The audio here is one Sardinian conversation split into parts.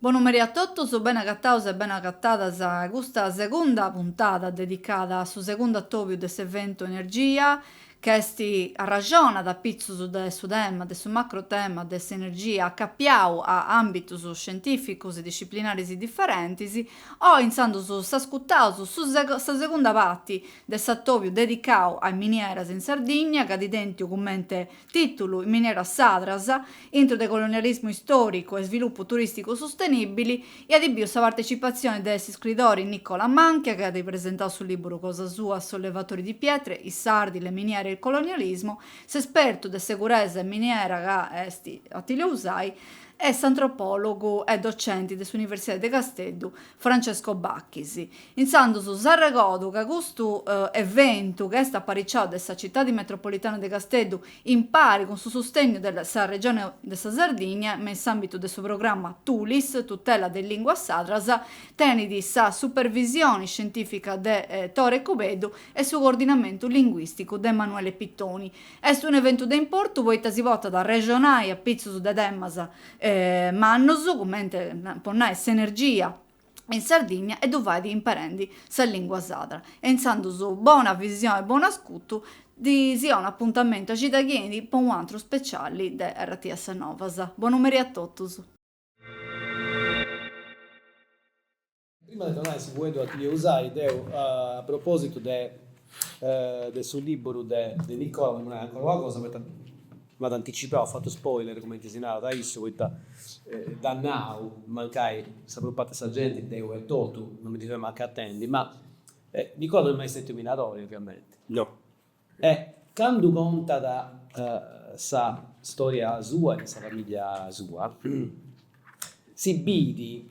Bonu merì a totus, bene agataus e bene agatadas a custa segunda puntada dedicada a su segundu atobiu de s'eventu Energia, Ch'est, arraxonat apitzus de su tema, de su macrotema de s'energia acapiau a àmbitus scientìficus e disciplinaris diferentis, oi intzandus s'ascutaus su sa segunda parti de s'atòbiu dedicau a is minieras in Sardigna, ca at tèntiu cumenti tìtulu, Minieras sadras, intro de colonialismu istòricu e svilupu turìsticu sustenìbili, E at biu sa partecipatzione de s'iscridori Nicola Manchia chi at presentau su lìburu cosa sua, Sollevatori di pietre, I sardi, le miniere e il colonialismo, s'espertu de seguresa 'e miniera ca est Attilio Usai e s'antropòlogu e docenti de s'Universidadi de Casteddu Francesco Bachis. Intzandus s'arregodu ca custu eventu, ca est apariciau de sa Citadi Metropolitana de Casteddu impari cun su sustegnu de sa Regioni de sa Sardigna me in s'ambitu de su programma Tulis, Tutela de Linguas Sadras, tenidi sa supervisioni scientifica de Tore Cubeddu e su coordinamentu linguisticu de Emanuele Pittoni, est unu eventu de importu poita si potat a arrexonai apitzus de temas mannus, cumenti po nai s'energia, in Sardìnnia e ddu fait imperendi sa lìngua sadra e intzandus bona visione e bonu ascutu deu si 'onu apuntamentu a cida chi 'enit po un'antru speciali de RTS Novas. Bonu merì a totus. Prima de donai su fueddu a Attilio Usai deu a propositu de su liburu de Nicola, bollu nai ancora una cosa poita M'at anticipau, at fatu spoiler cumenti si narat, issu, poita dd'at nau, mancai sa prus parti de sa genti, deu etotu, non mi ndi fia mancu acatendi, ma Nicola non est mai stetiu minadori, oviamenti. No. E candu contat sa storia sua e de sa famìllia sua, Si bidi,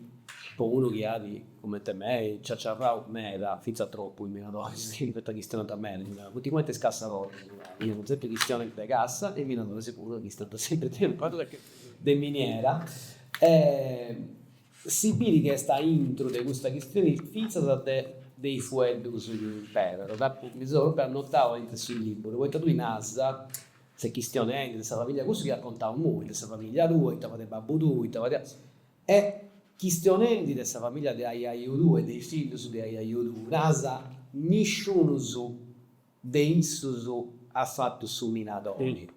po unu chi at, comente me, ciaciarrau meda, fintzas tropu cun minadoris, chi poita chistionant meda, funt cumenti is cassadoris, fiant sempri chistionis de cassa e is minadoris puru chistionant sempri de una cosa de miniera. Si bidi chi est aintru de custa chistioni fintzas de is fueddus chi imperat. Deu apu, mi seu propriu annotau aintru 'e su lìburu, poita tui nasa S'est chistionendi de sa famìllia cussu chi at contau immoi, de sa famìllia tua, ita fadiat babbu tuu, ita fadia. E chistionendi de sa famìllia de aiaiu tuu e de is fillus de aiaiu tuu, nasa, nisciunus de issus at fatu su minadori,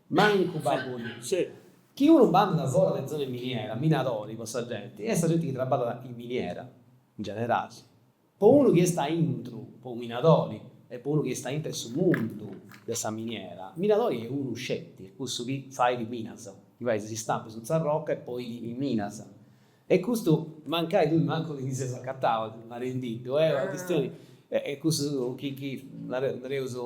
mancu babbu tuu. Chi unu bandat fora de zona de miniera, minadori po sa genti, est sa genti chi traballat in miniera, in generali. Po unu chi est aintru, po unu minadori, e po unu chi est aintr'e su mundu de sa miniera, minadori est unu sceti, est cussu chi fait minas, chi fait is istampus in s'arroca e poi li li minas. E custu mancai tui mancu ti ndi seas acatau, narendiddu, est una chistioni, e cussu chi chi nareus,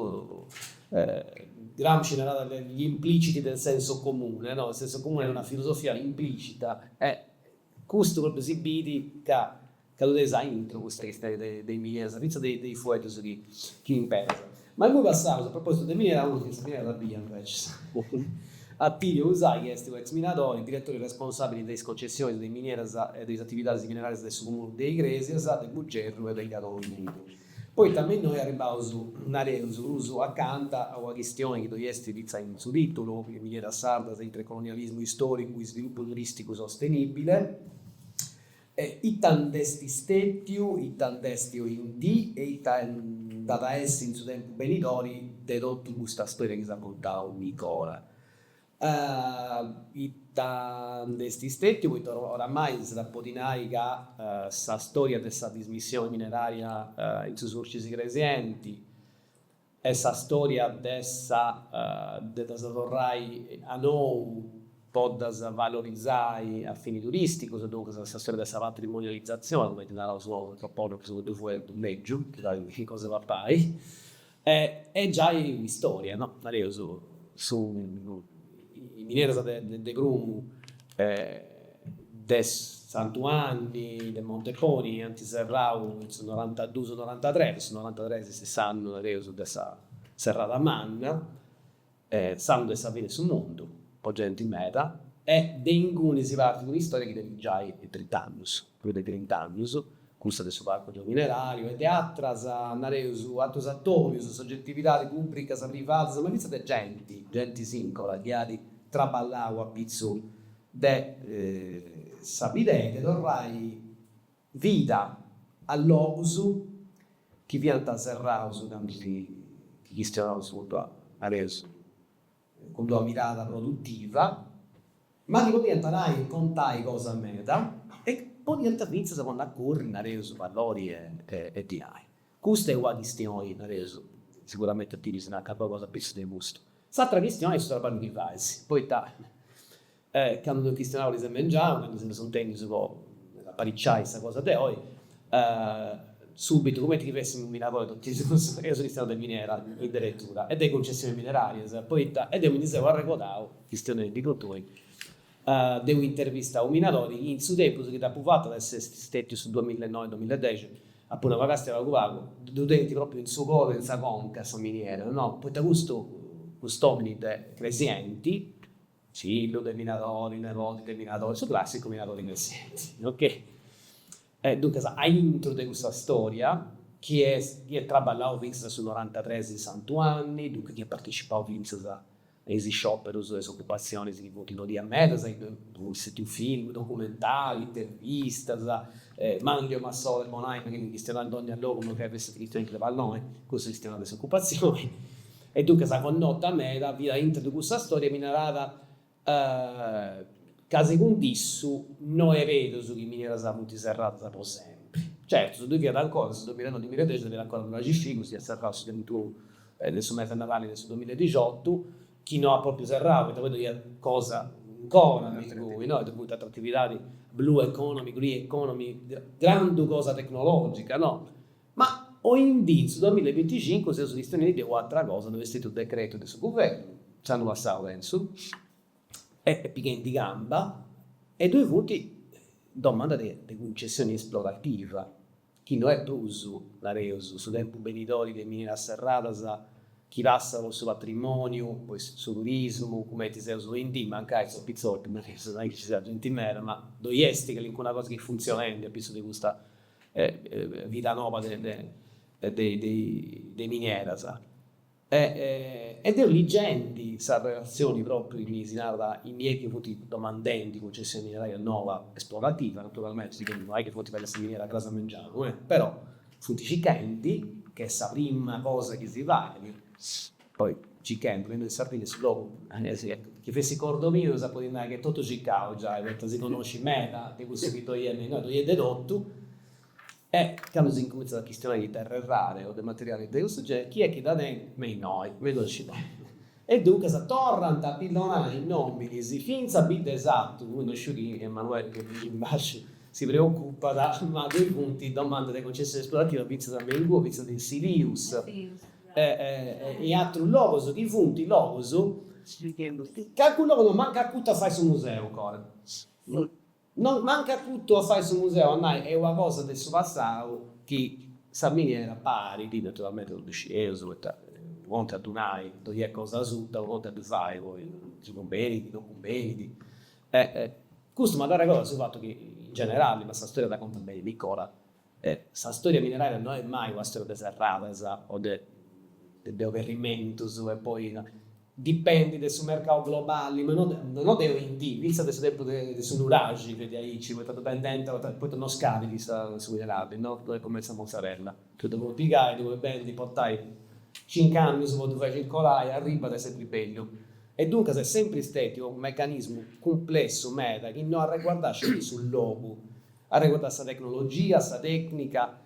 Gramsci narat gli impliciti del senso comune, no, il senso comune est una filosofia implicita e custu propriu si bit ca Ca dda tenis a intru custa chistioni de is mineras, fintzas de de is fueddus chi chi imperas. Ma immoi passaus a propositu de minera a unu chi in sa minera dda biiat invecias. Attilio Usai est unu ex minadori, diretori responsabili de is concessionis de is mineras e de is atividadis minerarias de su Comunu de Igresias, de Bugerru e de Gadoni. Poita me innoi arribbaus, nareus, prus acanta a una chistioni chi ddoi est fintzas in su titulu, Mineras sardas intre colonialismu istoricu, isvilupu turisticu sostenibile, E ita nd'est stètiu, ita nd'est oindì e ita nd'at a essi in su tempus benidori de totu custa stòria chi s'at contau Nicola? Ita nd'est stètiu poita oramai s'iat a podi nai ca sa stòria de sa dismissioni minerària in su Surcis Igresienti, Est sa storia de sa de ddas torrai a nou po ddas valorizai a fini turisticus, duncas sa storia de sa patrimonializatzioni, cumenti naraus nosu antropologus cun d-unu fueddu lègiu, po nai chi cosa papai, est giai un'istoria, no, nareus su is mineras de prumu e de Santu Anni de Monteponi ant serrau in su norantaduus norantatres, su norantatres est s'annu, nareus, de sa serrada manna, s'annu de sa fini de su mundu po genti meda e de inguni si partit un'istòria chi tenit giai trint'annus. prus de trint'annus, cussa de su Parcu Geominerariu e de atras, nareus, atrus atorius, sogetividadis pùbricas, privadas, ma fintzas de genti, genti singola, chi at traballau a pitzu de sa bidea de torrai vida a logus chi fiant serraus candu si chistionaus su puntu a, nareus. cun d'una mirada produtiva, ma chi podiant nai e contai cosa meda e podiant fintzas ponni a curri, nareus, valori e dinai. Custa est una chistioni, nareus, siguramenti a ti ddi si naccat pagu cosa a pitzus de custu. S'atra chistioni est su traballu chi fais, poita E candu dd'eus chistionau ariseu mengianu, candu si seus intendius po apariciai sa cosa de oi, subitu, cumenti chi fessimu minadoris totu is duus, eus chistionau de miniera inderetura e de cuncessionis minerarias, poita, e deu mi ndi seu arregodau, chistionendi cun tui, de unu intervistau minadori chi in su tempus chi dd'apu fatu, at essi stètiu su duamilla e noi, duamilla e dexi, apu nau, ma càstia pagu pagu ddu tenit pròpriu in su coru e in sa conca sa miniera, no? Poita custu, cust'òmini de cresienti, Fillu de minadori, neboti de minadori, su clàssicu minadori cresienti. Ok. E duncas, aintru de custa storia, chi est, chi at traballau fintzas a su norantatres in Santu Anni, duncas chi at partecipau fintzas a is scioperus e is ocupatzionis chi funt nodias meda, poi est stètiu film, documentari, intervistas, Manlio Massole po nai chi ndi chistionat in dònnia logu mancai fessit chistionendi de palloni, cussu chistionat de s'ocupatzioni. E duncas sa connota meda fiat intro de cussa storia mi narat ca segundu issu no est berus chi is minieras funt serradas po sempri. Certu, si ddu fiat ancora in su domilanoi-domiladexi fiat ancora Nuraxi Figus, chi at serrau su trintunu de su mes''e Nadali de su domiladixotu, chi no at propriu serrau, poita poi ddu iat cosa ancora me ingoi, no, ddu funt atras atividadis, blue economy, green economy, grandu cosa tecnologica, no, Ma oindì, in su duamilla e binticincu, seus chistionendi de u'atra cosa, ddoi est stetiu u decretu de su guvernu, s'annu passau pensu, est pighendi camba, e ddoi funt domanda de de cuncessioni esplorativa, chi no est prus, nareus, su tempus benidori de mineras serradas chi passat po su patrimòniu, po is su turismu, cumenti seus oindì, mancai sos pitzotis, nareus, no est chi nci siat genti meda, ma ddoi est calincuna cosa chi est funtzionendi a pitzus de custa vida noba de minieras. E deu ligendi sa relatzioni propriu chi si narat in mie chi funt domandendi cuncessioni mineraria noba esplorativa, naturalmenti si no est chi funt fadendi sa miniera cras a mengianu, però funt circhendi chi est sa prima cosa chi si fait Poi cichendi, bendu de Sardigna, su logu chi fessit cordu miu, si podit nai chi est totu cicau giai, poita si connoscit meda de cussu chi ddoi est, me inoghe ddoi est de totu. E candu s'incumintzat a chistionai de terre rare o de materialis de cussu generi, chi est chi dda tenit, me inoghe, me dda scit dai. E duncas torrant a pillonai nominis fintzas a Biddesatu, imui no sciu chi Emanuele chi est in basciu si preocupat, ma ddoi funt domandas de concessioni esplorativas fintzas me inguni, fintzas in Silius, e atrus logus chi funt logus càrcula ca no ant mancu acutu a fai su museu ancora. No ant mancu acutu a fai su museu a nai est una cosa de su passau chi sa miniera parit, naturalmenti non ddu scieus poita unu contu est a ddu nai, ddoi est cosa asuta, unu contu est a ddu fai poi si cumbenit, non cumbenit. Custu m'at arregodu a su fatu chi in generali, ma sa storia dda contat beni Nicola E sa stòria mineraria no est mai una stòria de serradas o de de oberrimentus e poi dipendit de su mercau globali, ma no de no de oindì, fintzas de su tempus de de su nuraxi fiat aici, poita ddu bendent, poita no scadit sa su minerali, no no est cumenti sa mozzarella, ddu ddu podit pigai, ddu podit bendi, portai cincu annus po ddu fai circolai, arribat est sempri bellu. E duncas est sempri stètiu unu mecanismu cumplessu meda chi no arreguardat sceti su logu Arreguardat sa tecnologia, sa tècnica,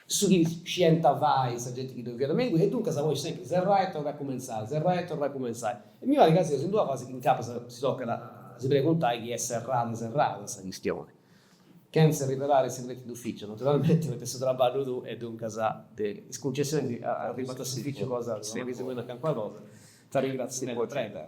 su chi scienta fai sa genti chi ddoi fiat me inguni, e duncas poi sempri serrai e torrai a cumentzai, serrai e torrai a cumentzai. E mi parit ca seus in d'una fasi chi incapas si tocat a si preguntai chi est serrada serrada sa chistioni, chentza arrivelai is segretis d'uficiu, naturalmenti, poita est su trabballu tuu e duncas de is cuncessionis arribat a s'uficiu cosa tua chi si podis nai calincuna cosa. T'arringrazio meda. Prego.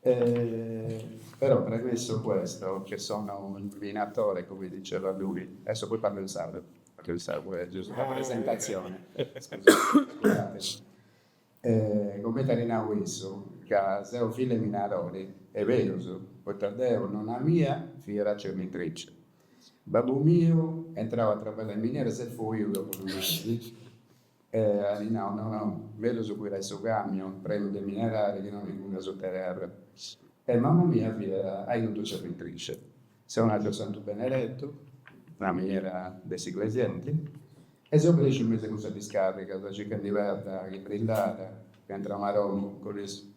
E però premesso questo che sono un minatore come diceva lui, adesso poi parlo in sardo perché in sardo è giusto la presentazione, scusate. E comenti at nau issu ca seu fillu 'e minadori, est berus, poita deu, nonna mia, fiat cernitrice, babbu miu est intrau a trabballai in miniera e s'est fuiu dopo unu mesi. E at nau, no, no, mellus guidai su camion prenu de minerali chi no chi calai asuta terra. E mama mia fiat aiuto cernitrice. Seu natu a Santu Benedettu, una miniera de s'Iglesienti, e seu cresciu in mesu a cussas discàrrigas circhendi perda chi brillàt, ca intrau Maroni cun is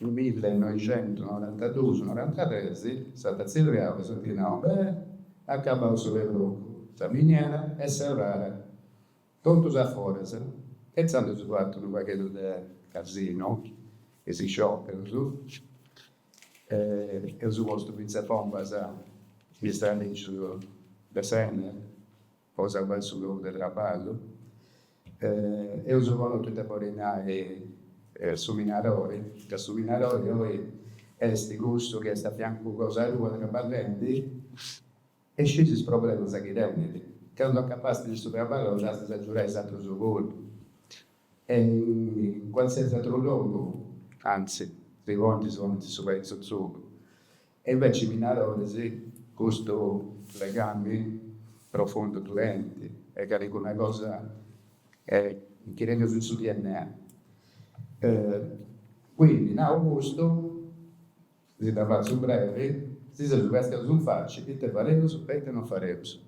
milli noixentu norantadus, norantatres, s'at tzirriau e s'at nau bene, acabau su perlocu, sa miniera est serrada, totus a foras, e insandus eus fatu unu pagheddu de casinu, e is scioperus, eus postu fintzas bombas in is tralicius de s'Enel. po salvai su logu de traballu. Eus connotu ita bolit nai su minadori, ca su minadori oi esti cussu chi esti a fiancu cosa tua traballendi e scit is problemasa chi tenit. Candu acabasti de su traballu giai de s'agiudai is atrus puru. E in qualsiasi atru logu, anzi, si podint, si ponint su pei in su tzugu. E inveci minadoris custu legami profundu ddu tenint est calicuna cosa chi nci teneus in su dna. Quindi nau custu, si dda fatzu brevi, si seus castiaus in faci ite fareus e ite non fareus.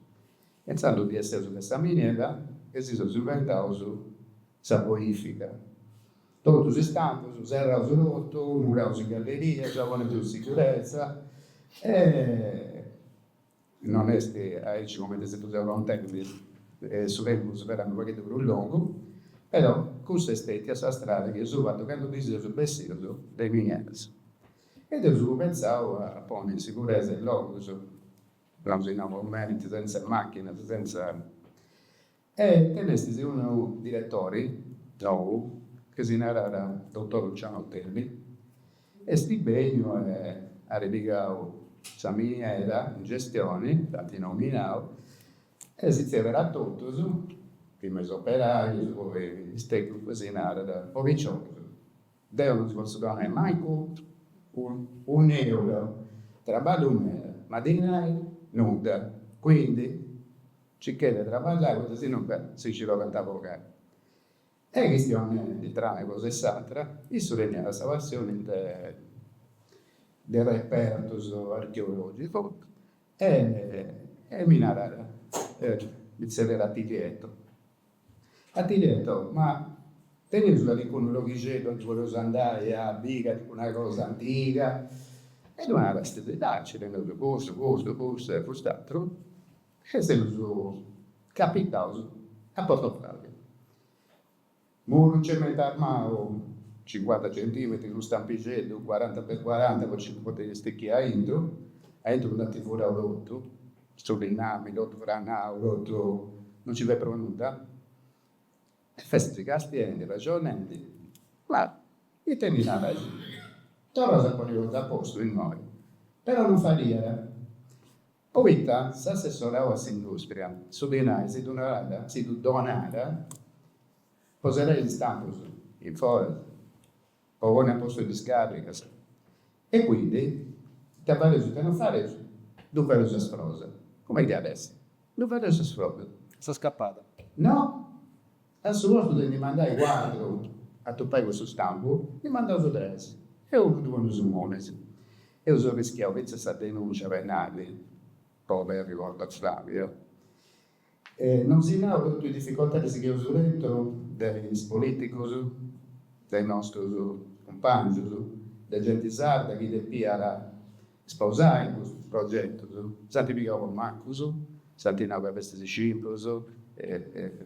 E intzandus ndi esseus de sa miniera e si seus inventaus sa bonifica. Totus is stampus serraus totu, muraus in galleria, a ponniddus in sigurezza e non est aici cumenti si ddu seu contendi, su tempus furiat unu pagheddu prus longu, però cussa est stètia sa strada chi eus fatu candu ndi seus bessius de miniera. E seus cumenzau a ponni in siguresa is logus, namus innoi, momenti, senz'e machinas, senz'e. E tenestis unu diretori nou chi si narat dottor Luciano Ottelli, esti beniu e ari pigau sa miniera in gestioni, dd'anti nominau e si zerriat a totus, prima is operaius poi is tecnicus si narat o piciocheddus. Deu non si potzu donai mancu un'euro, traballu meda, ma dinai nudda, quindi circai de traballai poita si no ca si nci tocat a bogai. E chistionendi tra una cosa e s'atra, issu teniat sa passioni de de repertus archeologicus e mi narat, mi zerriat Tilietto, Attilietto, ma teneus calicunu loghixeddu aundi poreus andai a biri, calicuna cosa antiga? E ddu naru, eja, nci teneus custu, custu, custu e cust'ateru. E seus capitaus a Porto Flavia. Muru cementu armau, cincuanta centimetri, unu stampixeddu, cuaranta per cuaranta po nci potiri stichiri aintru, aintru nd'ant furau totu, Su linnami, totu franau, totu, no nci fiat prus nudda. E festis castiendi, ragionendi, ma ite ndi naras, torraus a ponni totu a postu innoi, però non fadiat, poita s'assessorau a s'industria su dinai si ddu narat, si ddu donat po serrai is stampus in foras. Po ponni a postu is discàrrigas. E quindi, ite fadeus ite no fadeus, ddu fadeus a sfrosa. Cumenti iat a essi? Ddu fadeus a sfrosa. A sa scapada. No. A su postu de ndi mandai cuatru a tupai cussu stampu, ndi mandaus tres e unu ddu poneus innoi. Eus arrischiau fintzas sa denùncia penali po aberri Porto Flavia. E non si nau totu is dificoltadis chi eus tentu de is politicus, de is nostrus cumpangius, de genti sarda chi depiat sposai custus progetus, s'ant pigau po macus, s'ant nau ca festis scimpus,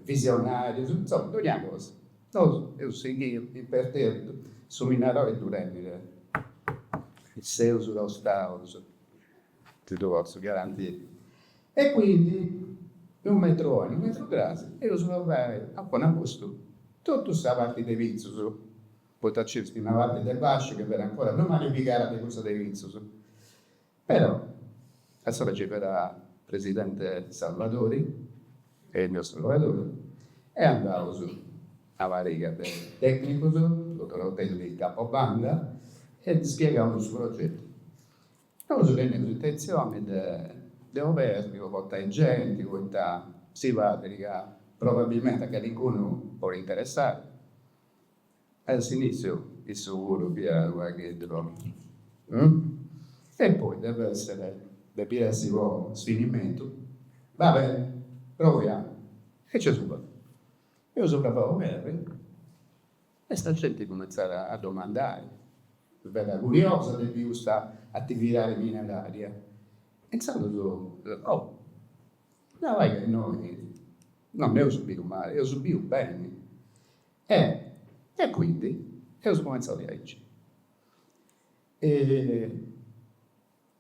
visionarius, insoma, dogna cosa. Nosu eus sighiu imperterritus su minaroi ddu rendiri. Seus tostaus. Ti ddu potzu garantiri. E quindi, in unu metru oi, in unu metru crasi, eus torrai a ponni a postu totu sa parti de pitzus, poita nci est una parti de basciu chi fera ancora prus malificada de cussa de pitzus. Però, a s'ora nci fera presidente Salvadori, Ilio Salvadori, e andaus una pariga de tecnicus, dotor Ottelli capo banda, e ddi spiegaus su progetu. Nosu teneus intentzioni de de oberri po portai genti poita si parit ca probabilmenti a calincunu podit interessai. A s'initziu issu puru fiat unu pagheddu contra e poi depit essere depit essi po sfinimentu, va bene proviamo e nc'eus provau. Eus provau oberri E sa genti cumentzat a domandai, meda curiosa de bi custa atividadi mineraria. E intzandus o, dda fai ca innoi no nd'eus biu mali, eus biu beni. E e quindi eus cumentzau diaici. E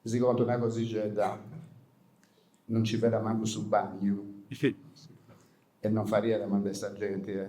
si contu una cosixedda, no nci fera mancu su bagnu e no fadiat a mandai sa genti e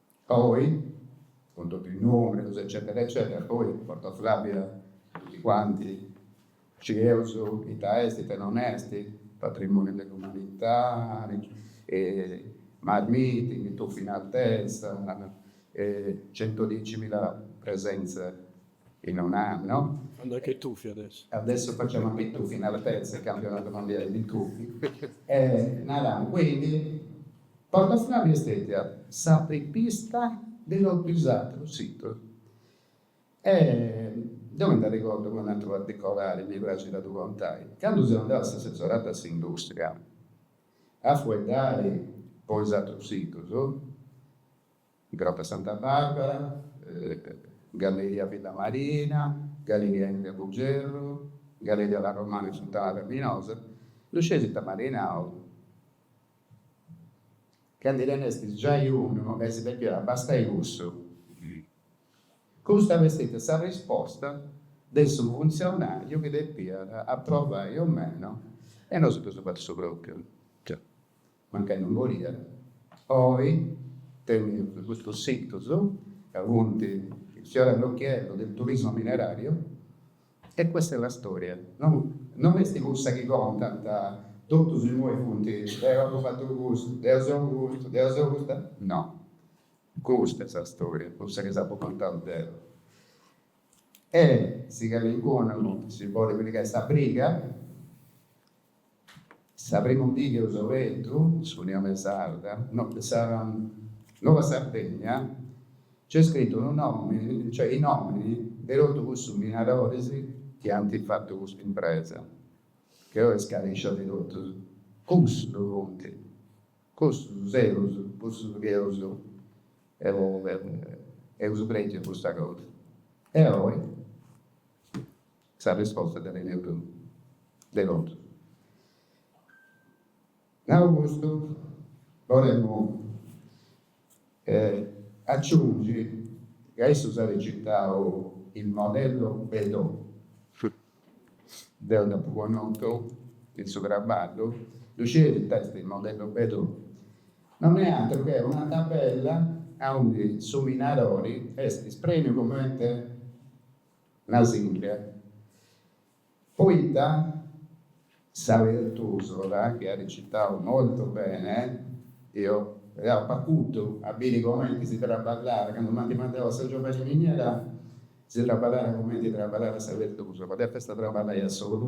Poi, cun totu is numerus eccetera eccetera, poi Porto Flavia tutti quanti scieus ita est, ita non est, patrimoniu de l'umanità, mass meeting in tuff'in altezza, centodiecimila presenze. In un anno. Anche i tuffi adesso. Adesso facciamo anche i tuffi in altezza, campionato mondiale di tuffi. E naramo quindi, Porto Flavia est stetia s'apripista de totu is atrus situs. E deu mi nd'arregordu po un'atru particolari, mi praxit a ddu contai. Candu seu andau a s'assessoratu a s'industria a fueddai po is atrus situs, Grotta Santa Barbara, Galleria Villa Marina, Galleria Henry a Buggerru, Galleria La Romana in Funtana Raminosa, ddu scieis ita m'at nau, ca ddoi nd'est giai unu e si depiat abastai cussu. Custa est stètia sa risposta de su funtzionàriu chi depiat aprovai o meno e nosu dd'eus fatu su pròpiu. Mancai non boliat, oi teneus custus situs ca funt il fiore all'occhiello del turismo minerario e questa è la storia. Non est cussa chi contant, totus imoi funt, deu apu fatu custu, deu seu custu, deu seu custa, no, custa est sa storia, cussa chi s'apu contau deu. E si calincunu si bolit pigai sa briga. Sa primu dì chi eus obertu, s'Unione Sarda, no, de sa Nova Sardegna, nc'est scritu unu nòmini, cioè is nòminis de totu cussus minadoris chi ant fatu custa impresa, che oi est scarèscia de totus. Cussus funt cussus eus, cussus chi eus eus prèdiu custa cosa. E oi? Sa risposta dda teneus. De contu. Nau custu, bolemu aciungi ca issus ant citau il modello Bedaux. Deu dd'apu connotu in su traballu. Ddu scieis ita est il modello Bedaux? Non est atru che una tabella aundi su minadori est isprèmiu cumenti Na sìndria. Poita sa Pertusola, chi at citau molto bene, eo deu apu acutu a biri comenti si traballat, candu m'ant mandau a San Giovanni Miniera, si traballàt comenti traballàt sa Pertusola, deu festa traballai a solu.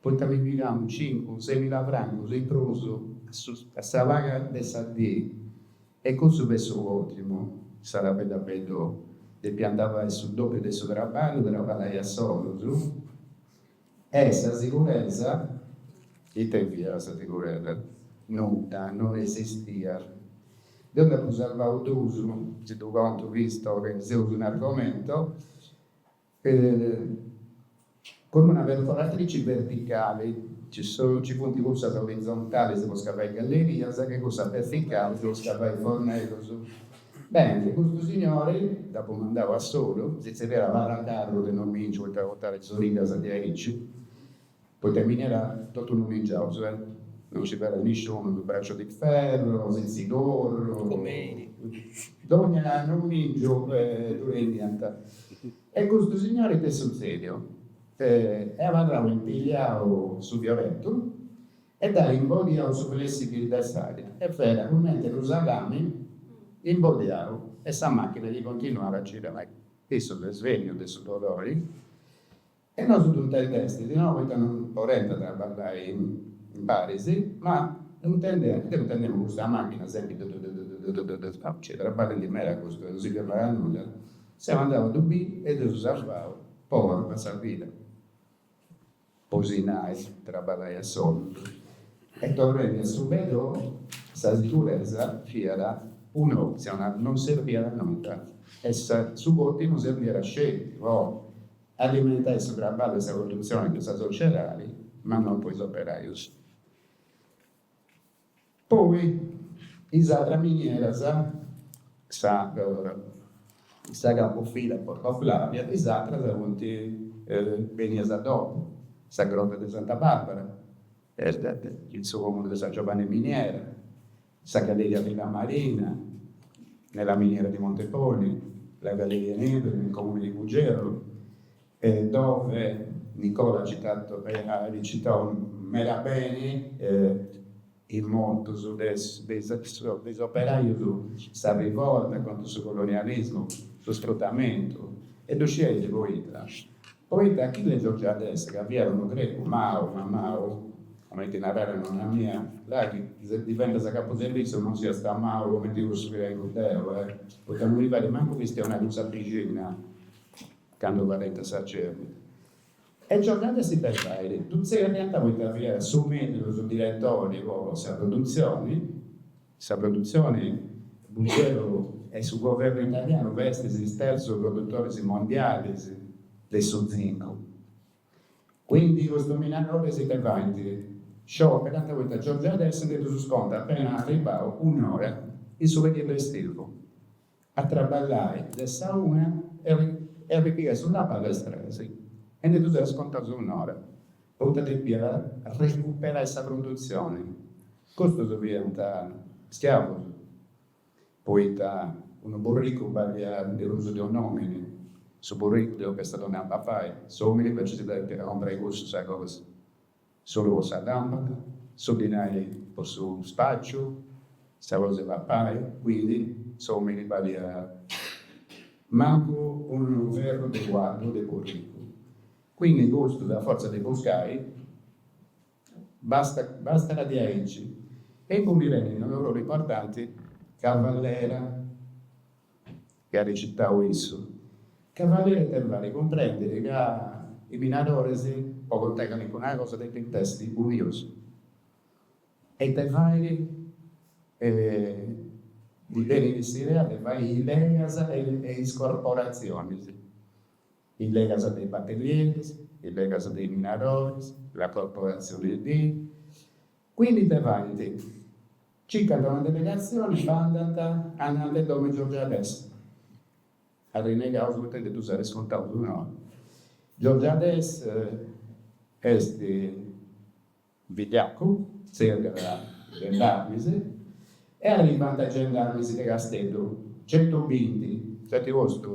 Poita mi pigamu cincu, semila francus in prus a sa paga de sa dì? E cussu fiat su còtimu, sa tabella Bedaux, depiant fai su dòpiu de su traballu po abarrai a solus? E sa siguresa? Ita fiat sa siguresa? Nudda, no esistiat. Deu nd'apu sarvau duus, si ddu contu visto che seus in argomento. Cun una perforatrici verticali, ci funt cussas orizontalis po scavai gallerias e cussas verticalis po scavai forneddus. Beni, custu signori, dd'apu mandau a solu, si tzerriàt Paracarru de nomìngiu, poita portàt is origas diaicci, Poita in miniera totu nomingiaus e. Non ci fiat nisciunu in Braccio di Ferro, Sitzigorru. Pomeini. Dogna nomìngiu e ddu rendiant. E custu signori ita est sutzediu? Est abarrau impigliau su fiorettu e dd'at imbodiau su flessibil de s'aria e fiat cumenti unu salami imbodiau e sa machina chi continuàt a girai. Issu s'est svènniu de su dolori. E nosu ddu intendestis, no poita no porent traballai imparis, ma deu intendemu custa machina sempri du du du du du du, nci est traballendi meda custu e no si firmàt a nudda, seu andau a ddu biri e ddu seu sarvau po ora a sa vida, po si nai, traballai a solus. E torrendi a su Bedaux, sa siguresa fiat un'optzioni, non serbiat a nudda e su cotimu serbiat sceti po Alimentai su traballu e sa produtzioni de sa sociedadi, ma no po is operaius. Poi is atras minieras, sa de sa capofila Porto Flavia, is atras funt benias a dopu, sa Grotta de Santa Barbara, in su comunu de San Giovanni Miniera, Sa galleria Villamarina, nella miniera di Monteponi, la galleria Henry, nel comune di Buggerru, dove Nicola at recitau meda beni is motus de is operajos, sa rivolta contra su colonialismo, su sfruttamentu e ddu scieit poita Poita Achille Georgiades ca fiat unu grecu mau, ma mau, comenti naraiat nonna mia, là chi si diventas capu servìtziu non siast mau comenti cussu chi tengu deu, eh! Poita non mi fait mancu chistionai cun sa bixinna candu fadeus sa cèrnita. E Georgiades de fatu, ddu tzerriant poita fiat su mellus diretori po sa produtzioni. Sa produtzione Buggerru e su governu italianu festis is terzus produtoris mondialis de su zincu. Quindi custus minadoris infatis scioperanta poita Georgiades nde ddus scontat appena arribau un'ora in su periodu estivu. a traballai de sa una e a ripigai su traballu a is tres e ndi ddus at scontau un'ora, poita depiat recuperai sa produtzioni. Custus fiant schiavus, poita unu burricu baliat de prus de un'omini, su burricu ddi tocat a donai a papai, s'omini invecias si depit comporai cussu sa cosa. S'ollu po sa làmpada, su dinai po su spàciu, sa cosa 'e papai, quindi, s'òmini baliat mancu unu ferru de cuaddu de burricu. Quindi custus, a fortza de buscai, basta basta diaici. E imui mi benit unu ruolu importanti, Cavallera chi at recitau issu, Cavallera ite fait cumprendit ca is minadoris po contai calincuna cosa depint essi unius e ite fait ddi benit s'idea de fai is legas e is corporatzionis, is legas de is batellieris, is legas de is minadoris, la corporazione di. Quindi ite faint circant una delegazione e andant andant a domo 'e Georgiades. Arrinegaus poita nde ddus at iscontaus un'ora. Georgiades est vigliacu, tzerriat gendarmis e arribant gendarmis de Casteddu, centubinti, nc'est postu.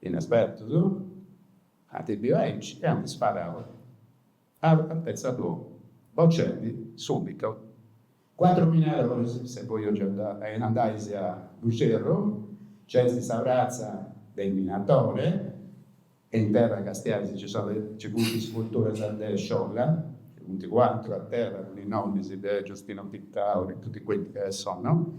Inespertus, ant biu aici e ant sparau a altezza d'uomo, bocendi subitu cuatru minadoris. Se poi andais a Buggerru, nc'est sa pratza de is minadoris e in terra castiais nci funt is sculturas de Sciola, funt cuatru a terra cun is nomis de Giustino Pittau e tutti quelli che ci sono.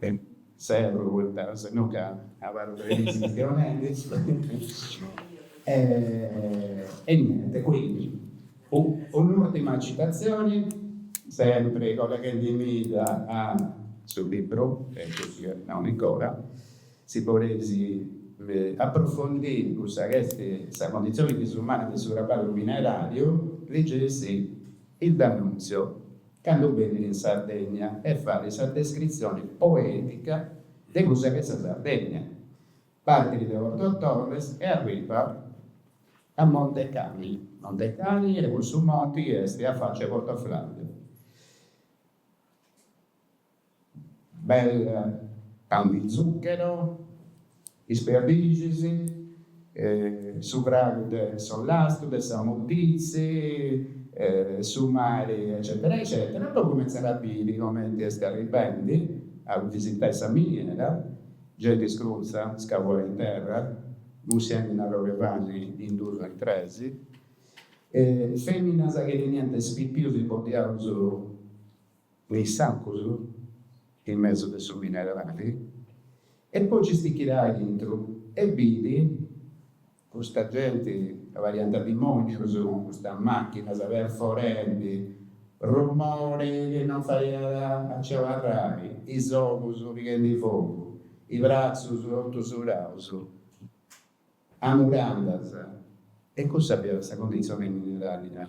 E serru poita se no ca abarru chistionendi. E niente, quindi un'urtima citazioni, sempri colleghendimida a su libru chi at nau Nicola, si podeis approfondiri cussa chi est sa condizioni disumana de su traballu minerariu, ligeisì il D'Annunzio. cando benit in Sardegna e fait sa descritzione poetica de cussa ch'est sa Sardegna, partit de Porto Torres e arribat a Montecani, Montecani est cussu monti chi est a faccia 'e Porto Flavia. bel Pan di Zucchero, is perdixis, su fragu de s'ollastu, de sa moditzi, su mari eccetera eccetera, poi cumentzat a biri comenti est arribendi a visitai sa miniera, genti scrutza, scavuada in terra, mussiendi un'arrogu 'e pani in dus o in tres, feminas chi teniant is pipius imboddiaus in is sacus in mesu de su minerali e poi nci stichit aintru e bit custa genti ca pariant dimonius cun custas machinas perforendi rumori chi non faiat a ci abarrai is ogus pighendi fogu is bratzus totu suraus a murandas e cussa fiat sa cundizioni mineraria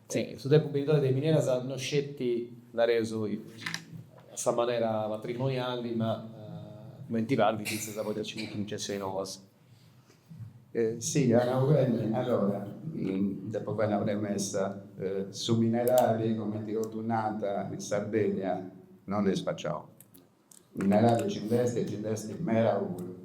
Si, in su tempus benidore de mineras no sceti, nareus, a sa manera patrimoniali, ma cumenti parit fintzas a podi accidi a cuncezioni noas. Si, as nau beni, allora, depu fai una premessa, su minerali, cumenti totus nant in Sardegna, non est spaciau. Minerali nci nd'est e nci nd'est meda puru.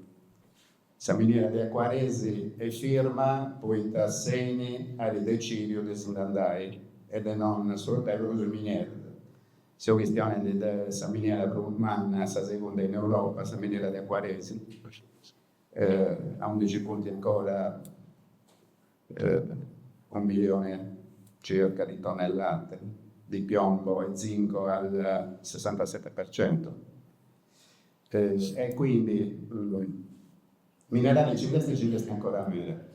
Sa miniera de Acuaresi est firma poita s'Eni at decìdiu de si nd'andai e de non sfrutai prus is minieras. Seu chistionendi de sa miniera prus manna, sa segunda in Europa, sa miniera de Acuaresi, a undi nci funt ancora unu milione circa di tonnellate di piombo e zinco al sessantasette per cento e quindi minerale ci nd'est e ci nd'est ancora meda.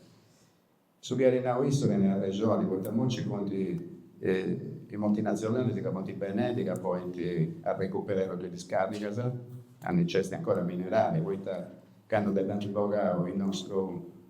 Su chi at nau issu tenet arrexoni poita immoci funt is multinazionalis ca funt benendi ca podint arrecuperai totu is discarigas aundi nci esti ancora minerali poita candu dd'ant bogau is nostrus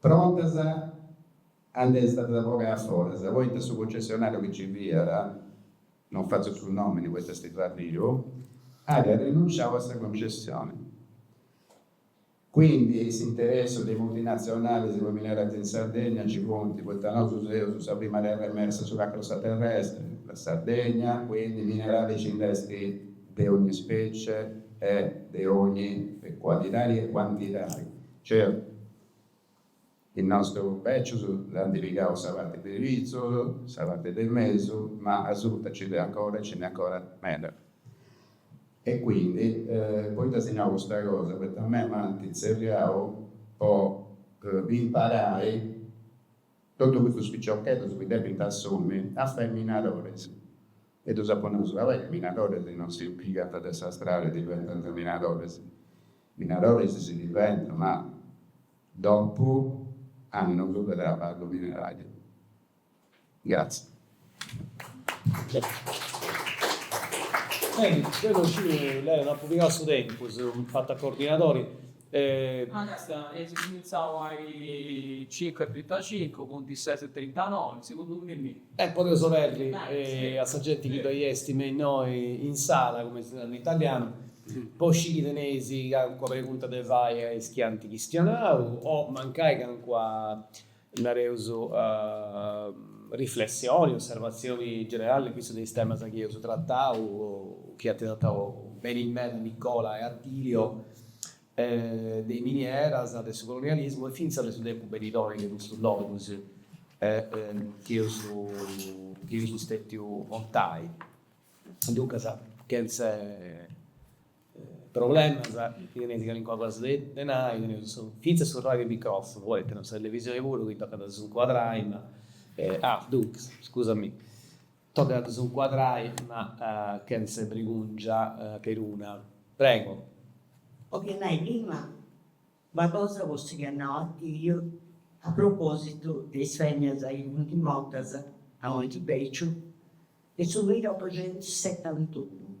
Prontas a dd'essi stata bogau a foras, poita su cucessionariu chi ci fiat, non fatzu su nomini poita est già biu, at rinunciau a sa concessioni. Quindi is interessus de is multinazionalis, po mineralis in Sardegna, nci funt, poita nosu seus sa prima terra emersa sulla crosta terrestre, la Sardegna, quindi minerali nci nd'est de ogni specie e de ogni qualitadi e quantidadi. Cioè, is nostrus bècius ant pigau sa parti de pitzus, sa parti de mesu, ma asuta nci nd'est ancora e nci nd'est ancora meda. E quindi, poita si nau custa cosa, poita a mei m'ant tzerriau po imparài Totu custus piciocheddus chi depint assumi a fai minadores. E ddus apu nau, ca is minadores non si pigant de sa strada e diventant minadores. Minadores si diventat, ma dopu annus de traballu mineràriu. Gratzie. Beni, deu non sciu, Leo, no apu pigau su tempus, chi fatzu a coordinadori. Ma basta eus cumintzau a is cincu e trintacincu, funt is ses e trintanoi, segundu mei. E podeus oberri a sa genti chi ddoi est innoi in sala, cumenti si narat in italianu, po sciri chi teneis calincuna pregunta de fai a is chi ant chistionau o mancai calincuna nareus, riflessioni, osservatzioni generali in contu de is temas chi eus tratau, chi ant tratau beni meda Nicola e Attilio, de is minieras, de su colonialismu e fintzas de su tempus benidori de custus logus chi eus chi eus stètiu contendi. Duncas, chentze Problemas, chi teneis calincuna cosa de nai, teneus fintzas su radio microfunu, poi teneus sa televisioni puru chi tocat a ddu incuadrai, ma, ah, duncas, scusami, tocat a ddu incuadrai, ma chentza brigungia peruna. Prego. Ok, a nai prima una cosa po su chi at nau Attilio a propositu de is feminas chi funt mortas a Montibèciu in su milliotuxentusetantunu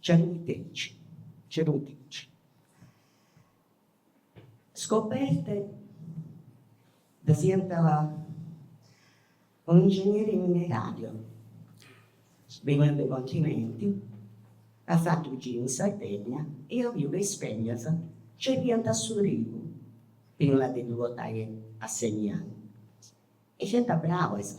Cernitrici, cernitrici. Scoperte ddas iat un'ingegneri mineràriu, beniat de continenti, at fatu unu giru in Sardegna e iat biu ca is fèmmias cerriant a su trigu prima de ddu portai a seminai e fiant brabas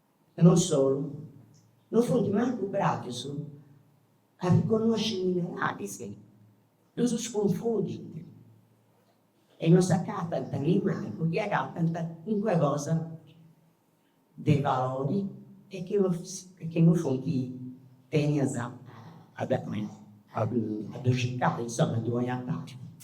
E non solu, non funt mancu bravas a riconnosci is mineràlis, no ddus cunfundint e non s'acatant nemancu chi agatant calincuna cosa de valori e chi non e chi non funt tentas a a ddu circai, insoma, a ddu 'onai a pàginas.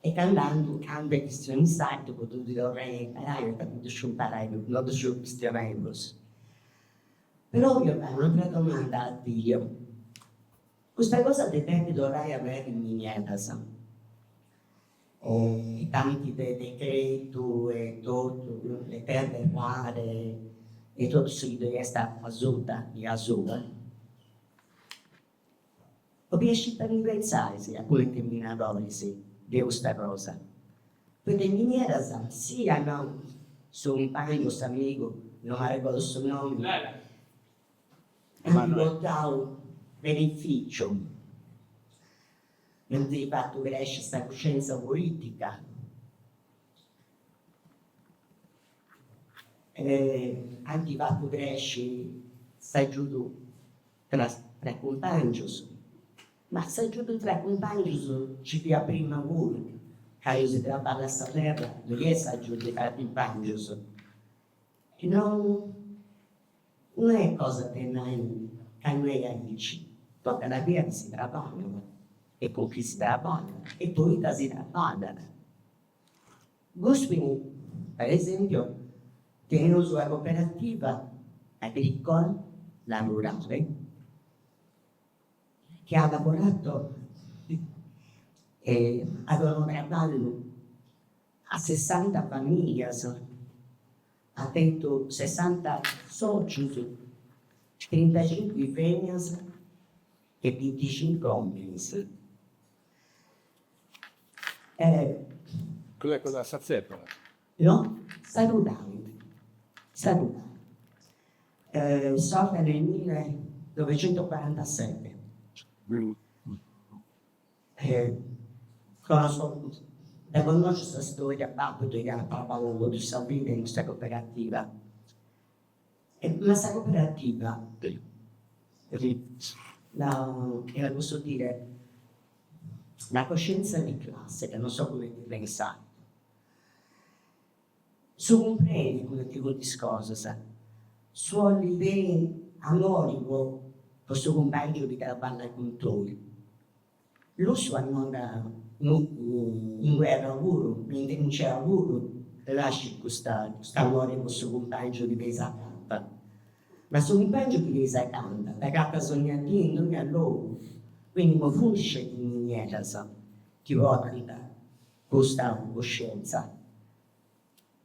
E candu andu a cambiai chistionu sardu po ddu torrai a imparai o ca no ddu sciu imparai, no ddu sciu chistionai prus. Però depu fai un'atra domanda a Attilio, custa cosa de depi torrai a aberri minieras e tanti de decretu e totu, le terre rare e totu su chi ddoi est asuta, de asuba, Bolia sciri in generali si acuntentadoris de custa cosa, poita is minieras si at nau su cumpàngiu, s'amigu, no m'arregodu su nomi, ant portau benefìciu, ant fatu cresci sa cuscienza polìtica. Ant fatu cresci s'agiudu Tra tra cumpàngios. Ma s'agiudu tra cumpàngios ci fiat prima puru, cando si traballat sa terra ddoe est s'agiudu tra cumpàngios. E non non est cosa de nai ca no est aici, tocat a biri chi si traballat e cun chi si traballat e poita si traballat. Guspini, per esempio, teneus una cooperativa agricola, la Rurale, chi at laborau, at donau traballu a sessanta famìlias, at tentu sessanta sòcius, trintacincu feminas e binticincu òminis. Custa est cosa a sa tzèpara. No, sa Rurale, sa Rurale. Sorta in su millenovecentocuarantasete. Dda connosciu sa storia, babbu ddoi at traballau totu sa vida in custa coperativa. Ma sa cooperativa, e posso dire, la coscienza di classe, ca non so cumenti si nat in sardu, su cumprendi cumenti funt is cosas, su 'olli beni, s'amori po su cumpàngiu chi traballat cun tui, Lussu est andau in guerra puru, inguni puru, nascit custu amori po su cumpàngiu chi tenis acanta. Ma su cumpàngiu chi tenis acanta dd'agatas dònnia dì in dònnia logu, quindi no funt sceti is minieras chi portant custa coscientza.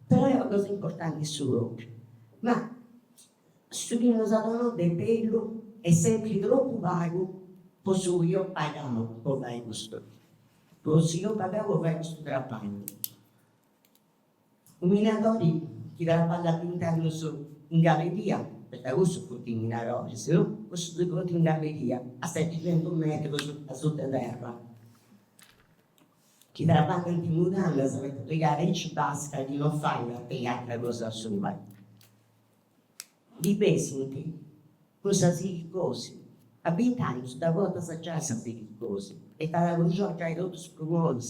Però est una cosa importanti su propriu, ma su chi nos at donau de bellu est sempri tropu pagu po su chi eus pagau po fai custu po su chi eus pagau po fai custu traballu. U' minadori chi traballat binti annus in galleria, poita cussus funt is minadoris, no, cussus chi funt in galleria a seticentus metrus asuta 'e terra Chi traballànt in mudandas sceti ca fiat aici basca chi no faiat e atra cosa. Si ndi bessint cun sa silicosi. A bint'annus dda portas giai sa silicosi e t'at acconciau giai totu is prumonis.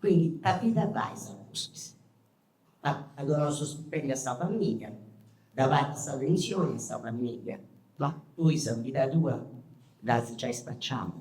Quindi ita ti ndi fais a pustis? As a donai su stipendiu a sa familia, dda pagas sa pensioni a sa familia, ma tui sa vida tua dd'as giai spaciada.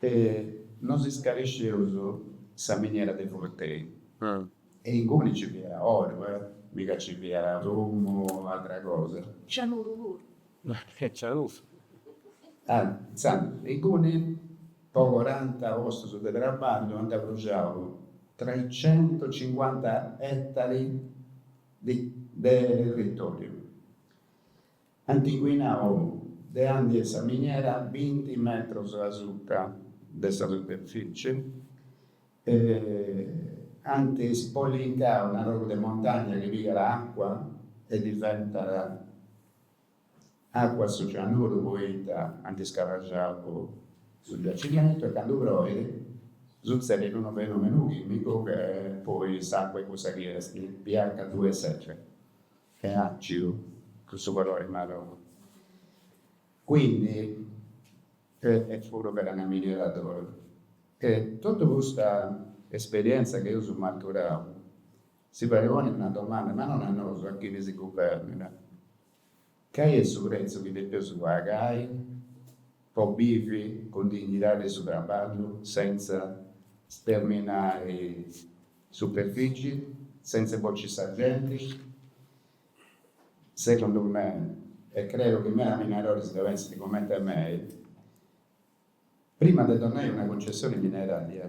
E no si scaresceus sa miniera de Furtei. E inguni nci fiat oru, mica nci fiat prumu o atra cosa. Cianuru puru. E cianuru. Intzandus, inguni, po coranta postus de traballu ant bruxiau treicentocincuanta ettari de territoriu. Ant inquinau de andi est sa miniera binti metros a suta de sa superfici e ant ispollincau un'arrogu de montagna chi pigat acua e diventat acua a su cianuru poita ant iscarraxau su giacimentu e candu proit sutzedit unu fenumenu chimicu che poi s'acua est cussa chi est pH duus e seti. est àcidu cun su colori marroni, quindi epuru ch'era una miniera d'oro e totu custa esperièntzia chi eus maturau si fait ponni una domanda, ma non a nosu, a chini si guvèrnat, cali est su pretzu chi depeus pagai po bivi cun dignidadi de su traballu, sentza sterminai Superfici, sentza bociri sa genti, segundu me, e creu chi meda minadoris dda pensint comente mei, prima de donnai una cuncessioni mineraria,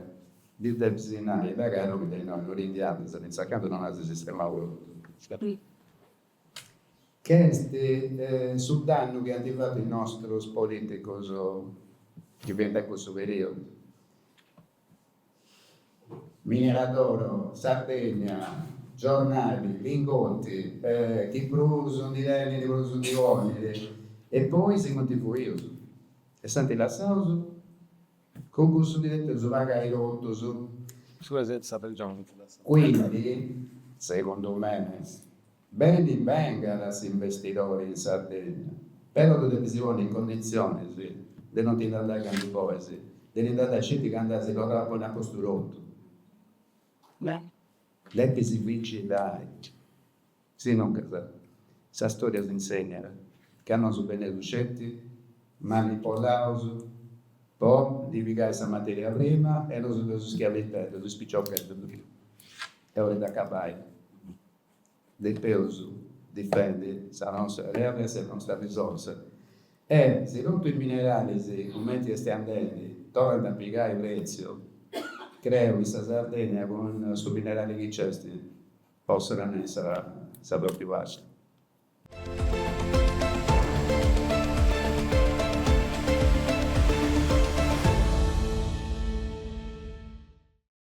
ddi depis nai là ca tui de innoi no ti nci andas, fintzas a candu non as sistemau totu, che est su dannu chi ant fatu is nostrus politicus chi fiant in cussu periudu. Miniera d'oro, Sardegna, giornali, lingotti, chi prus ndi tenit prus ndi ponit e poi si funt fuius e s'ant lassaus, cun cussu ndi depeus pagai totus. Su 'e sezza pergioni. Quindi, segundu me, Beni bengat s'imbestidori in Sardegna, però ddu depis ponni in conditzionis de no ti nd'andai candu bolis, de ti nd'andai sceti candu as torrau a ponni a postu totu. Depis vigilai, si no ca sa storia s'insegnat ca nosu beneus sceti manipolaus po ndi pigai sa materia prima e nosu seus schiaviteddos, is piciocheddos. Est ora de acabai depeus difendi sa nosta terra e sa nosta risorsa e si totu is mineralis cumenti est andendi torrant a pigai pretziu creu chi sa Sardegna cun su minerali chi nc'est possat andai sa totu paci.